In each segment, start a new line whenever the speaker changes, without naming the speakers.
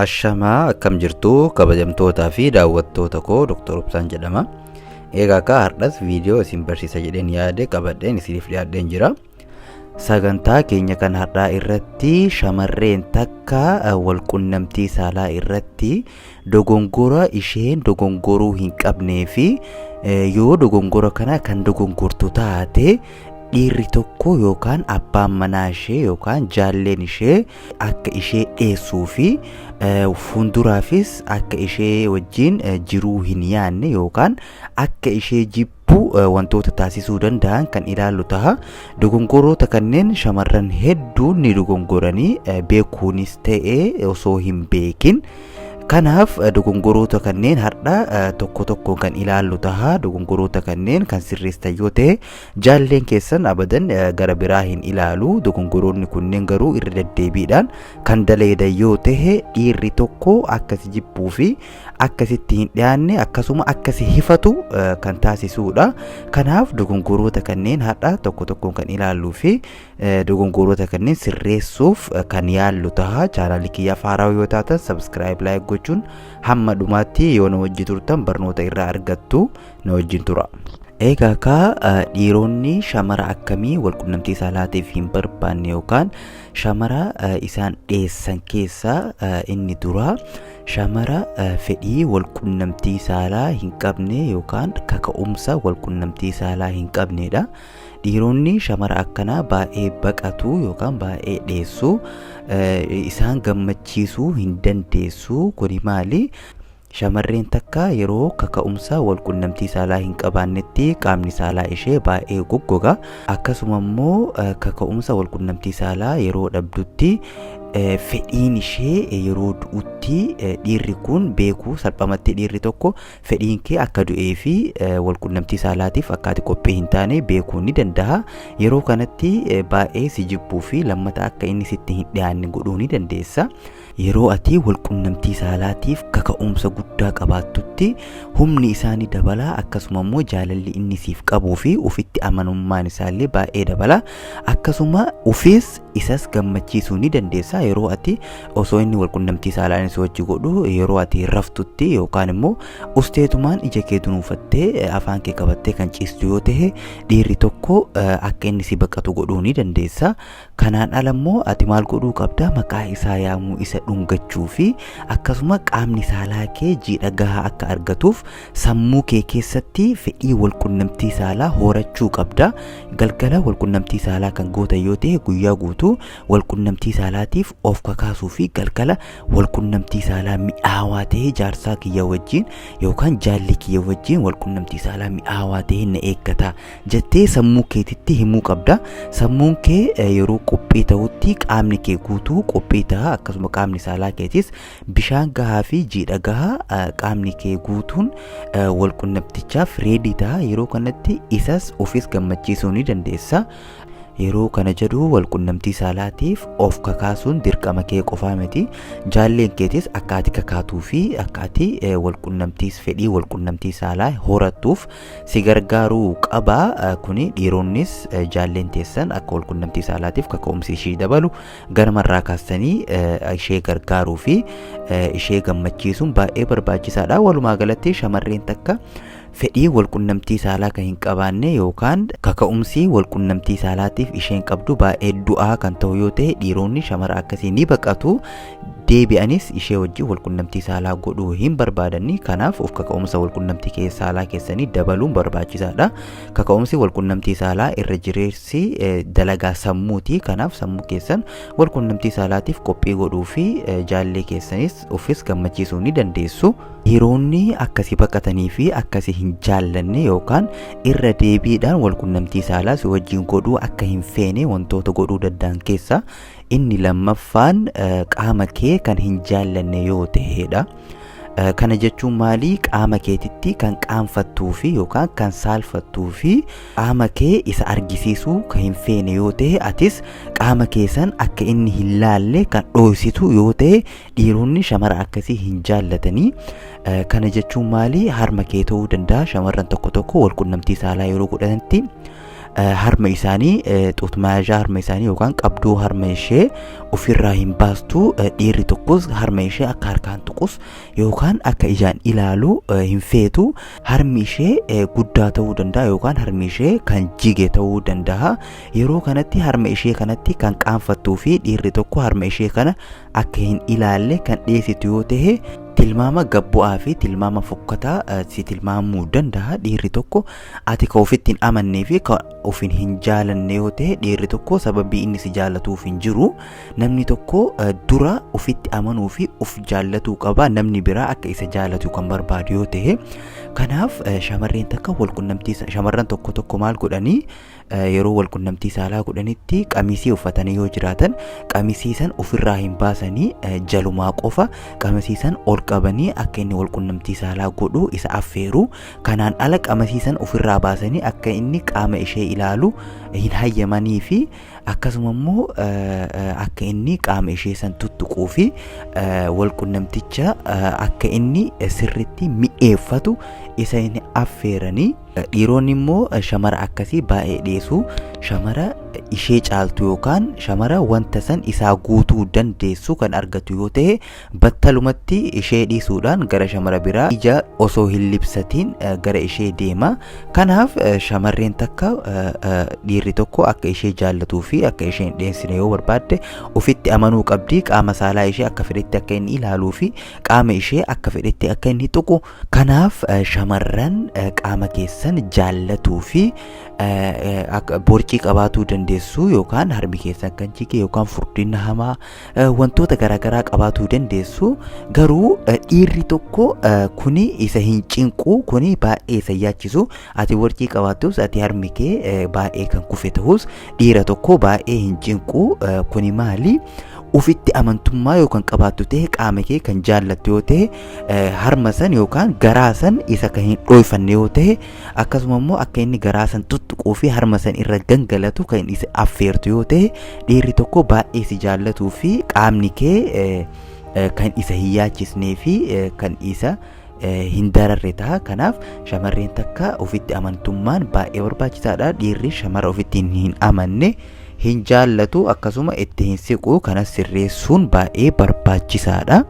Ashamaa akkam jirtu kabajamtootaa fi daawwattoota koo Dr. Obsaan jedhama. Egaa akka har'as viidiyoo isin barsiisa jedheen yaade qabadheen isiniif dhiyaadheen jira. Sagantaa keenya kan har'aa irratti shamarreen takka eh, walqunnamtii saalaa irratti dogongora isheen dogongoruu hin qabnee fi yoo dogongora kana kan dogongortu taate dhiirri tokko yookaan abbaan manaa ishee yookaan jaalleen ishee akka ishee dheessuu fi fuulduraafis akka ishee wajjin jiruu hin yaanne yookaan akka ishee jibbu Kanaafuu wantoota taasisuu danda'an kan ilaallu taha. Dogongoroota kanneen shamarran hedduun ni dogongoranii beekuunis ta'ee osoo hin beekin. Kanaaf dogongoroota kanneen har'a tokko tokko kan ilaallu taha. Dogongoroota kanneen kan sirreessan yoo ta'e jaalleen keessan abadan gara biraa hin ilaalu. Dogongoroonni kunneen garuu irra deddeebiidhaan kan daleedan yoo ta'e dhiirri tokko akka si jibbuu fi akka sitti hin dhiyaanne akkasuma akka si hifatu kan taasisuudha. Kanaaf dogongoroota kanneen har'a tokko tokkoon kan ilaalluu fi dogongoroota kanneen sirreessuuf kan yaallu taha. Chaanaalii kiyyaaf haaraa yoo taatan sabiskiraayib laayik gochuun hamma dhumaatti yoo na wajji turtan barnoota irraa argattu na wajjin tura. Egaa kaa dhiironni shamara akkamii walqunnamtii saalaatiif hin barbaanne yookaan shamara isaan dheessan keessaa inni duraa Shamara fedhii walqunnamtii saalaa hin qabne yookaan kaka'umsa walqunnamtii saalaa hin qabneedha. Dhiironni shamara akkanaa baay'ee baqatu yookaan baay'ee dheessu. Isaan gammachiisuu hin dandeessu. Kuni maali? Shamarreen takka yeroo kaka'umsa walqunnamtii saalaa hin qabaannetti qaamni saalaa ishee baay'ee goggoga. Akkasuma immoo kaka'umsa walqunnamtii saalaa yeroo dhabdutti fedhiin ishee yeroo du'utti dhiirri kun beekuu salphamatti dhiirri tokko fedhiin kee akka du'ee fi walqunnamtii saalaatiif akka ati qophii hin taane beekuu ni danda'a. Yeroo kanatti baay'ee si jibbuu fi lammata akka inni sitti hin dhiyaanne godhuu ni dandeessa. Yeroo ati walqunnamtii saalaatiif kaka'umsa guddaa qabaattutti humni isaa ni dabala akkasuma immoo jaalalli inni siif qabuu fi ofitti amanummaan isaallee baay'ee dabala akkasuma ofiis isas gammachiisuu ni dandeessa yeroo ati osoo inni walqunnamtii saalaan si wajji godhu yeroo ati raftutti yookaan immoo usteetumaan ija kee dunuunfattee eh, afaan kee qabattee kan ciistu yoo ta'e dhiirri tokko eh, akka inni si baqatu godhuu ni dandeessa kanaan ala immoo ati maal godhuu qabda maqaa isaa yaamuu isa dhungachuu fi akkasuma qaamni saalaa kee jiidha gahaa akka argatuuf Sammuu kee keessatti fedhii walqunnamtii saalaa horachuu qabda. Galgala walqunnamtii saalaa kan gootan yoo ta'e guyyaa guutuu walqunnamtii saalaatiif of kakaasuu fi galgala walqunnamtii saalaa mi'aawaa ta'e jaarsaa kiyya wajjin yookaan jaalli kiyya wajjin walqunnamtii saalaa mi'aawaa ta'e na eeggata jettee sammuu keetitti himuu qabda. Sammuun kee eh, yeroo qophii ta'utti qaamni kee guutuu qophii ta'a akkasuma qaamni saalaa keetis Bishaan gahaa fi jiidha gahaa qaamni kee guutuun walqunnamtichaaf reedii ta'a. Yeroo kanatti isas ofis gammachiisuu ni dandeessa. Yeroo kana jedhu walqunnamtii saalaatiif of kakaasuun dirqama kee qofaa miti. Jaalleen keetis akka ati kakaatuu fi akka ati walqunnamtiis fedhii walqunnamtii saalaa horattuuf si gargaaruu qaba. Kuni dhiironnis jaalleen teessan akka walqunnamtii saalaatiif kaka'umsi ishii dabalu Ganama irraa kaastanii ishee gargaaruu fi ishee gammachiisuun baay'ee barbaachisaadha. Walumaa galatti shamarreen takka fedhii walqunnamtii saalaa kan hin qabaanne yookaan kaka'umsi walqunnamtii saalaatiif isheen qabdu baay'ee du'aa kan ta'u yoo ta'e dhiironni shamara akkasii ni baqatu. Deebi'anis ishee wajjin walqunnamtii saalaa godhuu hin barbaadanni. Kanaaf of kaka'umsa walqunnamtii saalaa keessanii dabaluun barbaachisaadha. Kaka'umsi walqunnamtii saalaa irra jireessa. si dalagaa sammuuti kanaaf sammuu keessan wal qunnamtii saalaatiif qophii godhuu fi jaallee keessanis ofis gammachiisuu ni dandeessu. Dhiironni akkasi baqatanii fi akkasi hin jaallanne yookaan irra deebiidhaan wal qunnamtii saalaa si wajjin godhuu akka hin feene wantoota godhuu danda'an keessaa inni lammaffaan qaama kee kan hin jaallanne yoo ta'edha. Kana jechuun maalii qaama keetitti kan qaanfattuu fi yookaan kan saalfattuu fi Qaama kee isa argisiisuu kan hin feene yoo ta'e atis qaama kee san akka inni hin laalle kan dhooysitu yoo ta'e dhiironni shamara akkasii hin jaallatanii. Eh, Kana jechuun maali? Harma kee ta'uu danda'a shamarran tokko tokko wal qunnamtii saalaa yeroo godhanitti eh, harma isaanii eh, xuutmaayazhaa harma isaanii yookaan qabdoo harma ishee ofirraa hin baastu Eh, dhiirri tokkos harma ishee akka harkaan tuqus yookaan akka ijaan ilaalu hin feetu harmi ishee guddaa ta'uu danda'a yookaan harmi ishee kan jige ta'uu danda'a yeroo kanatti harma ishee kanatti kan qaanfattuu fi dhiirri tokko harma ishee kana akka hin ilaalle kan dhiyeessitu yoo ta'e tilmaama gabbu'aa fi tilmaama fokkataa si tilmaamuu danda'a dhiirri tokko ati ka ofitti hin amannee fi ka ofin hin jaalanne yoo ta'e dhiirri tokko sababii inni si jaalatuuf hin jiru Namni tokko eh, dura ofitti amanuu fi of jaallatuu qaba. Namni biraa akka isa jaallatu kan barbaadu yoo ta'e. Kanaaf eh, shamarreen takka walqunnamtii sa- shamarran tokko tokko maal godhanii eh, yeroo walqunnamtii saalaa godhanitti qamisii uffatanii yoo jiraatan qamisii san ofirraa hin baasanii eh, jalumaa qofa qamisii san ol qabanii akka inni walqunnamtii saalaa godhu isa affeeru. Kanaan ala qamisii san ofirraa baasanii akka inni qaama ishee ilaalu hin hayyamanii fi Akkasuma immoo akka inni qaama ishee san tuttuquu fi walqunnamticha akka inni sirritti mi'eeffatu isa hin affeeranii dhiironni immoo shamara akkasii baay'ee dhiyeessu shamara ishee caaltu yookaan shamara wanta san isaa guutuu dandeessu kan argatu yoo ta'e Battalumatti ishee dhiisuudhaan gara shamara biraa ija osoo hin libsatiin gara ishee deema. Kanaaf shamarreen takka dhiirri tokko akka ishee jaallatuu fi akka ishee hin dheensine yoo barbaadde ofitti amanuu qabdi. Qaama saalaa ishee akka fedhetti akka inni ilaaluu fi qaama ishee akka fedhetti akka inni tuqu. Kanaaf shamarran qaama keessan jaallatuu fi borcii qabaatuu dandeessu yookaan harmi keessan kan jige yookaan furdina hamaa wantoota garaagaraa qabaatuu dandeessu garuu dhiirri tokko kuni isa hin cinqu kuni baay'ee isa yaachisu ati warqii qabaattus ati harmi kee baay'ee kan kufe ta'us dhiira tokko baay'ee hin cinqu kuni maali ufitti amantummaa yookaan qabaattu ta'e qaama kee kan jaallattu yoo ta'e harma san yookaan garaa san isa kan hin dhooyfanne yoo ta'e Akkasuma immoo akka inni garaa san tuttuquu fi harma san irra gangalatu kan isa affeertu yoo ta'e dhiirri tokko baay'ee si jaallatuu fi qaamni kee eh, eh, kan isa hin yaachisnee fi eh, kan isa eh, hin dararre ta'a. Kanaaf shamarreen takka ofitti amantummaan baay'ee barbaachisaadha. Dhiirri shamara ofitti hin amanne hin jaallatu akkasuma itti hin siqu kanas sirreessuun baay'ee barbaachisaadha.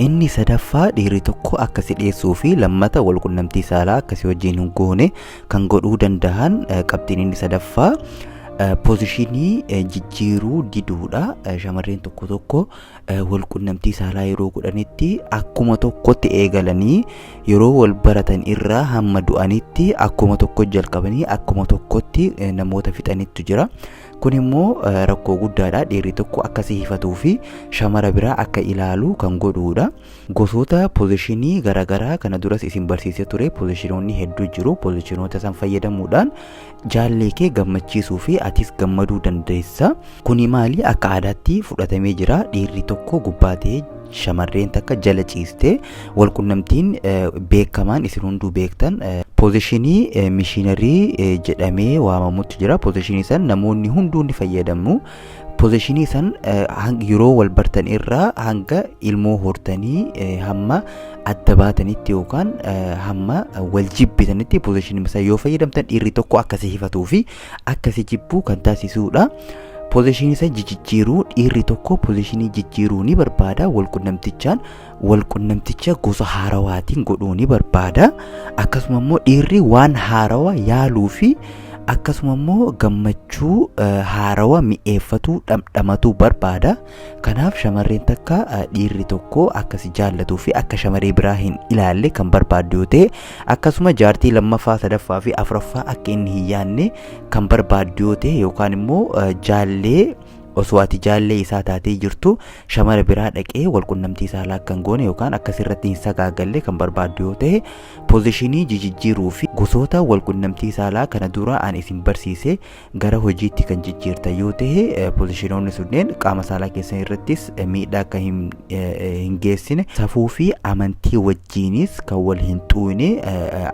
Inni sadaffaa dhiirri tokko akka si dheessuu fi lammata wal qunnamtii saalaa akka si wajjin hin goone kan godhuu danda'an qabxiin inni sadaffaa pozishinii jijjiiruu diduudha. Shamarreen tokko tokko walqunnamtii saalaa yeroo godhanitti akkuma tokkotti eegalanii yeroo wal baratan irraa hamma du'anitti akkuma tokko jalqabanii akkuma tokkotti namoota fixanittu jira. Kun immoo rakkoo guddaadha. Dhiirri tokko akka si hifatuu fi shamara biraa akka ilaalu kan godhuudha. Gosoota pozishinii garaagaraa kana duras isin barsiisee ture pozishinoonni hedduu jiru. Pozishinoota san fayyadamuudhaan jaallee kee gammachiisuu fi atis gammaduu dandeessa. Kuni maali akka aadaatti fudhatamee jira dhiirri tokko gubbaa ta'ee shamarreen takka jala ciistee walqunnamtiin eh, beekamaan isin hunduu beektan eh, poozishinii eh, mishiinarii eh, jedhamee waamamutti jira. Poozishinii san namoonni hunduu ni fayyadamu. pozishinii san yeroo wal bartan irraa hanga ilmoo hortanii hamma adda baatanitti yookaan hamma wal jibbitanitti pozishinii isaa yoo fayyadamtan dhiirri tokko akkasii hifatuu fi akkasii jibbuu kan taasisuudha. Pozishinii isaa jijjiiruu dhiirri tokko pozishinii jijjiiruu ni barbaada wal qunnamtichaan walqunnamticha gosa haarawaatiin godhuu ni barbaada akkasuma immoo dhiirri waan haarawa yaaluu fi akkasuma immoo gammachuu eh, haarawa mi'eeffatuu dhamdhamatuu barbaada kanaaf shamarreen takka eh, dhiirri tokko akka si jaallatuu fi akka shamaree biraa hin ilaalle kan barbaaddu yoo ta'e akkasuma jaartii lammaffaa sadaffaa fi afraffaa akka inni hin yaanne kan barbaaddu yoo ta'e yookaan immoo eh, jaallee Osoo ati jaallee isaa taatee jirtuu shamara biraa dhaqee walqunnamtii saalaa akka hin goone yookaan akka sirratti hin sagaagalle kan barbaaddu yoo ta'e pozishinii jijijjiiruu fi gosoota walqunnamtii saalaa kana dura aan isin barsiise gara hojiitti kan jijjiirta yoo ta'e pozishinoonni sunneen qaama saalaa keessan irrattis miidhaa akka hin hin geessine safuu fi amantii wajjiinis kan wal hin xuune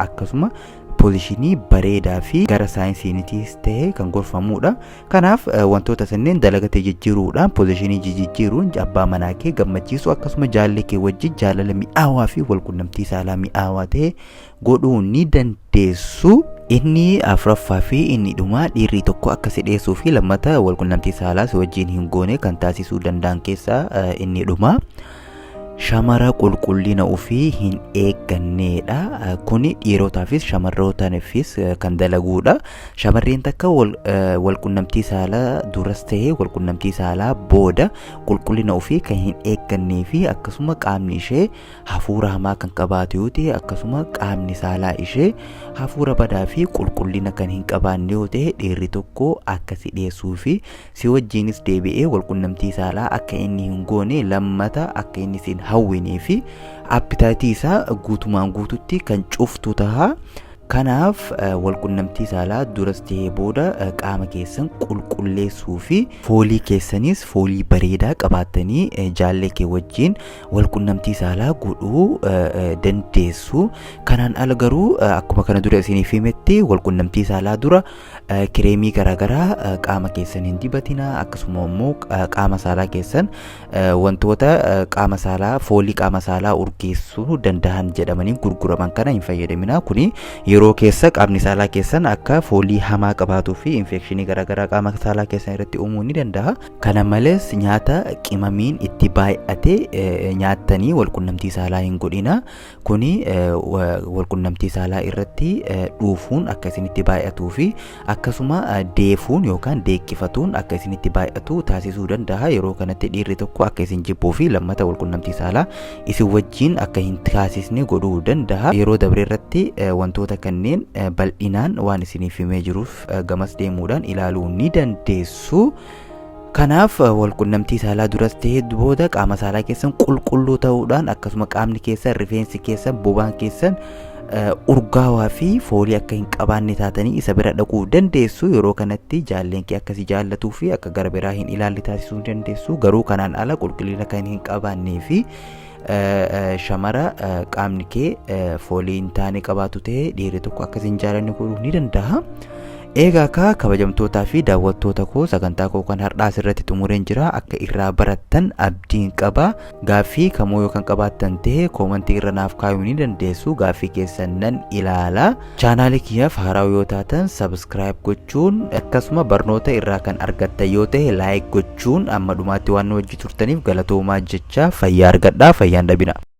akkasuma pozishinii bareedaa fi gara saayinsiinitis ta'e kan gorfamuudha. Kanaaf wantoota sanneen dalagatee jijjiiruudhaan pozishinii jijjiiruun abbaa manaa kee gammachiisuu akkasuma jaallee kee wajjin jaalala mi'aawaa fi walqunnamtii saalaa mi'aawaa ta'e godhuu ni dandeessu. Inni afraffaa fi inni dhumaa dhiirri tokko akka si dheessuu fi lammata walqunnamtii saalaa si wajjin hin goone kan taasisuu danda'an keessaa inni dhumaa. Shamara qulqullina ofii hin eegganneedha. Kuni dhiirotaafis shamarrootaanifis kan dalaguudha. Shamarreen takka wal, eh, walqunnamtii saalaa duras ta'ee walqunnamtii saalaa booda qulqullina ofii kan hin eeggannee fi akkasuma qaamni ishee hafuura hamaa kan qabaatu yoo ta'e akkasuma qaamni saalaa ishee hafuura badaa fi qulqullina kan hin qabaanne yoo ta'e dhiirri tokko akka si dhiyeessuu fi Si wajjiinis deebi'ee walqunnamtii saalaa akka inni hin goone lammata akka inni sin hawwinee fi appitaayitii isaa guutumaan guututti kan cuftu taha. Kanaaf walqunnamtii saalaa duras tahee booda qaama keessan qulqulleessuu fi foolii keessanis foolii bareedaa qabaattanii jaallee kee wajjiin walqunnamtii saalaa godhuu dandeessu. Kanaan ala garuu akkuma kana dura isiniif himetti walqunnamtii saalaa dura Kireemii garaagaraa qaama keessan hin dibatina akkasuma immoo qaama saalaa keessan wantoota qaama saalaa foolii qaama saalaa urgeessuu danda'an jedhamanii gurguraman kana hin fayyadamina kuni yeroo keessa qaamni saalaa keessan akka foolii hamaa qabaatuu fi infekshinii garaagaraa qaama saalaa keessan irratti uumuu ni danda'a kana malees nyaata qimamiin itti baay'ate nyaattanii walqunnamtii saalaa hin godhina kuni walqunnamtii saalaa irratti dhuufuun akka isinitti baay'atuu fi akkasuma deefuun yookaan deeqqifatuun akka isinitti baay'atu taasisuu danda'a yeroo kanatti dhiirri tokko akka isin jibbuu fi lammata walqunnamtii saalaa isin wajjiin akka hin taasisne godhuu danda'a yeroo dabre irratti wantoota kanneen bal'inaan waan isiniif himee jiruuf gamas deemuudhaan ilaaluu ni dandeessu Kanaaf walqunnamtii saalaa duras ta'ee booda qaama saalaa keessan qulqulluu ta'uudhaan akkasuma qaamni keessan rifeensi keessan bobaan keessan urgaawaa fi foolii akka hin qabaanne taatanii isa bira dhaquu dandeessu yeroo kanatti jaalleen kee akkasii jaallatuu fi akka gara biraa hin ilaalle taasisuu dandeessu garuu kanaan ala qulqullina kan hin qabaannee fi shamara qaamni kee foolii hin taane qabaatu ta'e dhiirri tokko akka isin jaalanne godhuu ni danda'a. Eegaa akka kabajamtootaa fi daawwattoota koo sagantaa koo kan har'aas irratti xumureen jira akka irraa barattan abdiin qaba gaaffii kamuu yoo kan qabaattan ta'e koomantii irra naaf kaayuu ni dandeessu gaaffii keessan nan ilaala chaanaalii kiyyaaf haaraa yoo taatan sabiskiraayib gochuu gochuun akkasuma barnoota irraa kan argattan yoo ta'e like gochuun amma dhumaatti waan nu wajji turtaniif galatoomaa jechaa fayyaa argadhaa fayyaa hin dhabinaa.